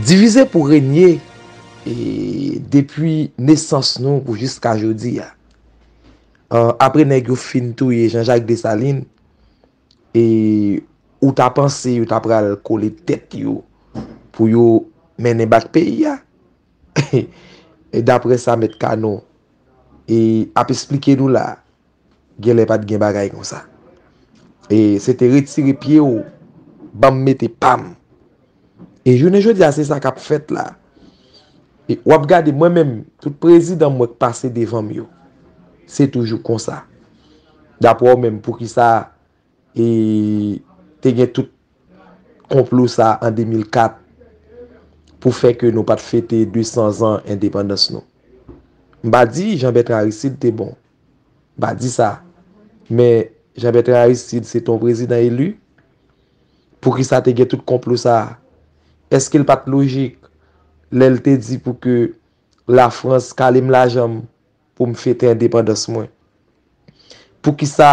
Divize pou renye e depi nesans nou pou jiska jodi a. Apre nèg yo fin touye Jean Jacques Dessalines. E ou ta panse yo ta pral kole tèt yo pou yo mennen bak peyi a? E dapre sa Mèt Kano e ap esplike nou la, gen lè pat gen bagay konsa. E se te retire pye ou, banm mete pam. E jounen jodi a se sa kap fèt la. E wap gade mwen menm tout prezidan mwen k pase devanm yo. Se toujou konsa. Daprè ou menm poukisa e te gen tout konplo sa an 2004 pou fè ke nou pat fete 200 zan endepandans nou. M pa di Jean Bertrand Aristide te bon. M pa di sa. Men Jean Bertrand Aristide se te yon prezidan elu. Poukisa te gen tout konplo sa a? Eske l pa t lojik lè l te di pou ke Lafrans kale m lajan m pou m fete endepandans mwen? Poukisa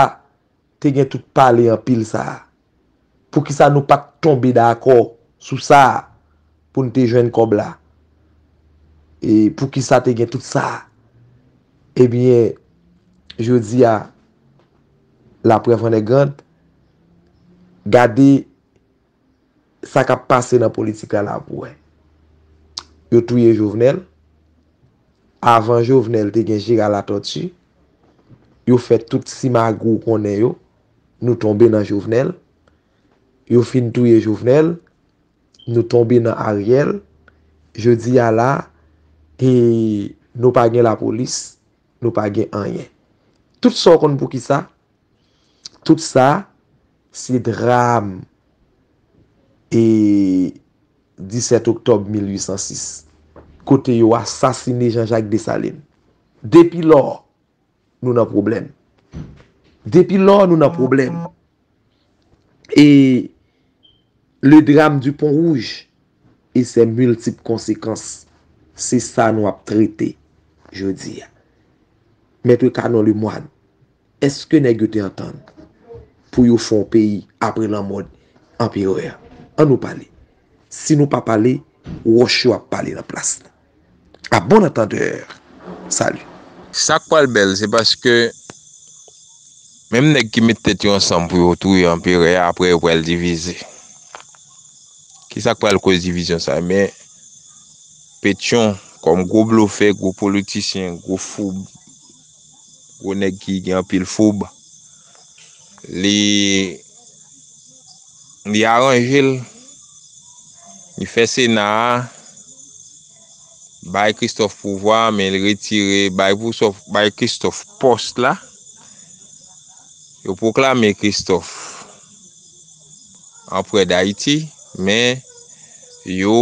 te gen tout pale anpil sa a? Poukisa nou pa t tonbe dakò sou sa a pou n te jwenn kòb la? E poukisa te gen tout sa a? Ebyen, jodi a, laprèv an è grand. Gade sa kap pase nan politik la la pou wè. Yo touye Jovenel. Avan Jovenel te gen Gérard Latortue. Yo fè tout simagou ou konnen yo. Nou tonbe nan Jovenel. Yo fin touye Jovenel. Nou tonbe nan Ariel. Jodi a la e nou pa gen la polis. Nou pa gen anyen. Tout sa ou konnen pou ki sa? Tout sa se dram e 17 oktòb 1806, kote yo asasine Janjak Desalin. Depi lò, nou nan pwoblèm. Depi lò, nou nan pwoblèm. E le dram di Pon Wouj e sè miltip konsekans, se sa nou ap trete jodi a. Mètre Canon Lemoine, Eske nèg yo te antann pou yo fè yon peyi apre lanmò anperè a? An nou pale. Si nou pa pale, wòch yo ap pale nan plas nou. A bon antandèur. Salut. Sak pral bèl se paske menm nèg ki met tèt yo ansanm pou yo touye anperè a aprè yo pral divize. Kisak pral koz divizyon sa men Petion kòm gwo blofè, gwo politisyen, gwo foub. Gwo nèg ki gen anpil foub. Li li aranje l. Li fè Sena a bay Christophe pouvwa men li retire bay Pousof, bay Christophe pòs la. Yo pwoklame Christophe anprè d'Ayiti men yo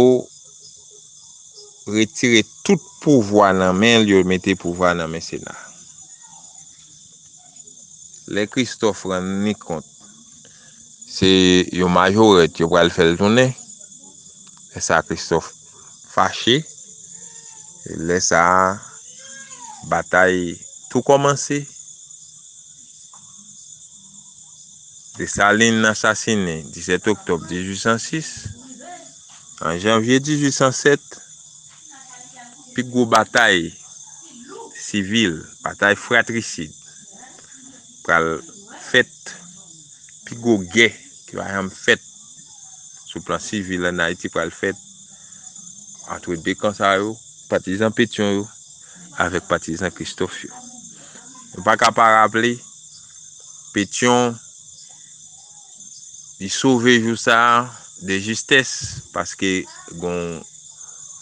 retire tout pouvwa nan men l yo mete pouvwa nan men sena lè Christophe rann li kont se yon majorèt yo pral fè l tounen lè sa Christophe fache lè sa batay tou kòmanse Dessalines asasine 17 octobre 1806. An janvye 1807, pi gwo batay sivil, batay fratrisid, pral fèt, pi gwo gè ki pa janm fèt sou plan sivil ann Ayiti pral fèt antre 2 kan sa yo, patizan Petyon yo avèk patizan Kristòf yo. Nou pa ka pa raple Petyon. Li sove jou sa de jistès paske gon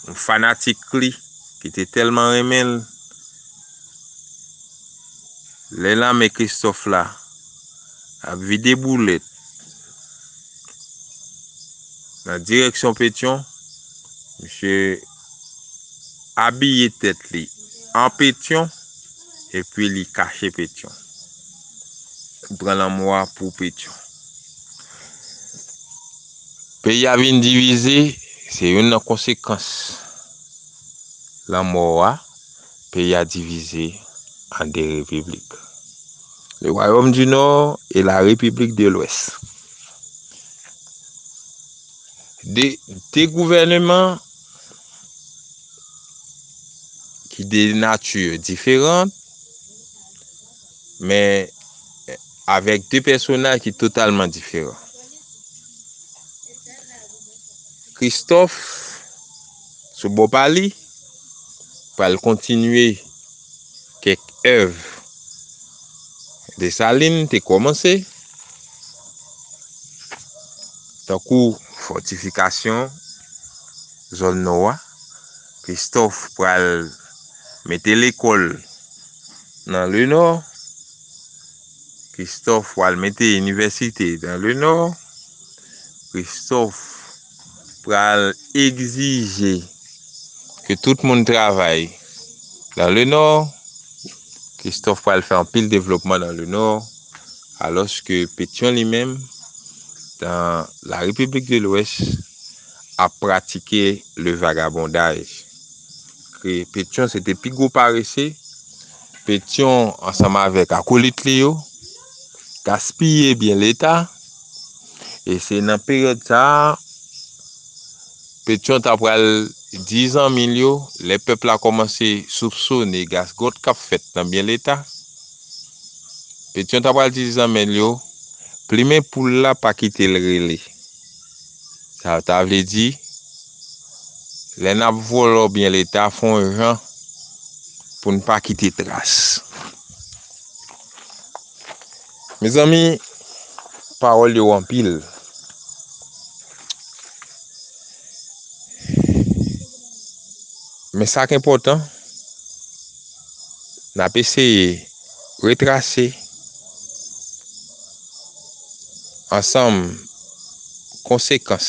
yon fanatik li ki te tèlman renmen l. Lè lame Kristòf la ap vide boulèt nan direksyon Petyon, misye abiye tèt li an Petyon epi li kache Petyon. pran lanmò a pou Pétion. Peyi a vin divize, se youn nan konsekans lanmò a, peyi a divize an 2 repiblik, Le Royaume du Nord et la République de l'Ouest. 2, 2 gouvèneman ki de nature diferant. men avèk 2 pèsonaj ki totalman diferan. Kristòf, sou bò pa li, pral kontinye kèk èv Desalin te kòmanse, tankou fòtifikasyon zòn nò a, Christophe pral mete lekòl nan le nò. Christophe pral mete inivèsite nan le nò. Christophe pral egzije ke tout moun travay nan le nò. Christophe pral fè anpil devlopman nan le nò. Alòske Petion li menm nan la repiblik de lwès. ap pratike le vagabondaj. Ke Petyon se te pi gwo parese, Petyon ansanm avèk akolit li yo, gaspiye byen leta, e se nan peryòd sa a, Petyon ta pral di zanmi l yo, lè pèp la kòmanse soupsone gasgòt k ap fèt nan byen leta, Petyon ta pral di zanmi l yo, plimen poul la pa kite l rele. Sa ta vle di, lè n ap vòlò byen Leta, fon jan pou n pa kite tras. Mezanmi, pawòl yo anpil. Men sa k enpòtan, n ap eseye. Retrase ansanm konsekans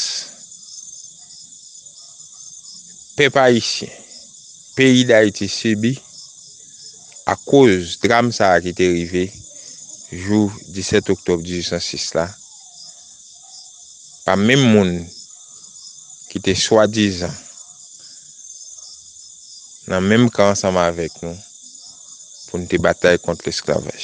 pèp ayisyen, peyi Dayiti sibi akoz dram sa a ki te rive jou 17 oktòb 1806 la. pa menm moun ki te swadizan nan menm kan ansanm avèk nou pou n te batay kont lesklavaj.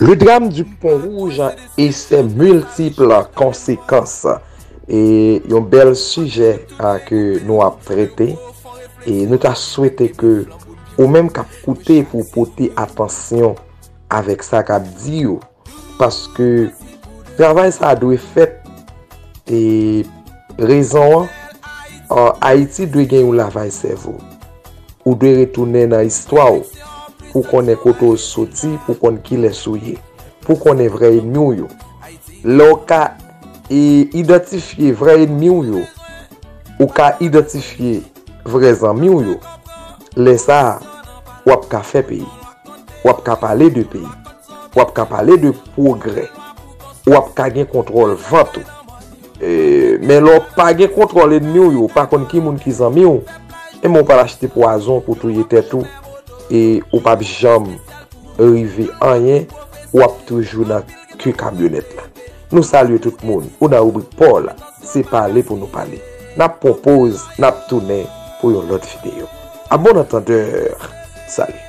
Le drame du pont rouge a e se multiple konsekans e yon bel sijè a ke nou ap trete e nou ta swete ke ou menm kap koute pou w pote atansyon avek sa kap di yo paske travay sa dwe fet e rezon an ayiti dwe gen yon lavaj sevo. Ou dwe retounen nan istwa w pou w konnen kote w soti, pou w konn kilès ou ye, pou w konnen vrè enmi w yo. Lè w ka idantifye vrè enmi w yo, ou ka idantifye vrè zanmi w yo. Lè sa a, w ap ka fè peyi. W ap ka pale de peyi. W ap ka pale de pwogrè. W ap ka gen kontwòl vant ou. Men lè w pa gen kontwòl enmi w yo pa konn ki moun ki zanmi w, enben w pral achte pwazon pou touye tèt ou e ou p ap janm rive anyen, w ap toujou nan ke kamyonèt la. Nou salye tout moun, ou nan ribrik paw la, se pale pou nou pale. N ap pran poz, n ap tounen pou yon lòt videyo. A bon antandeur, salut!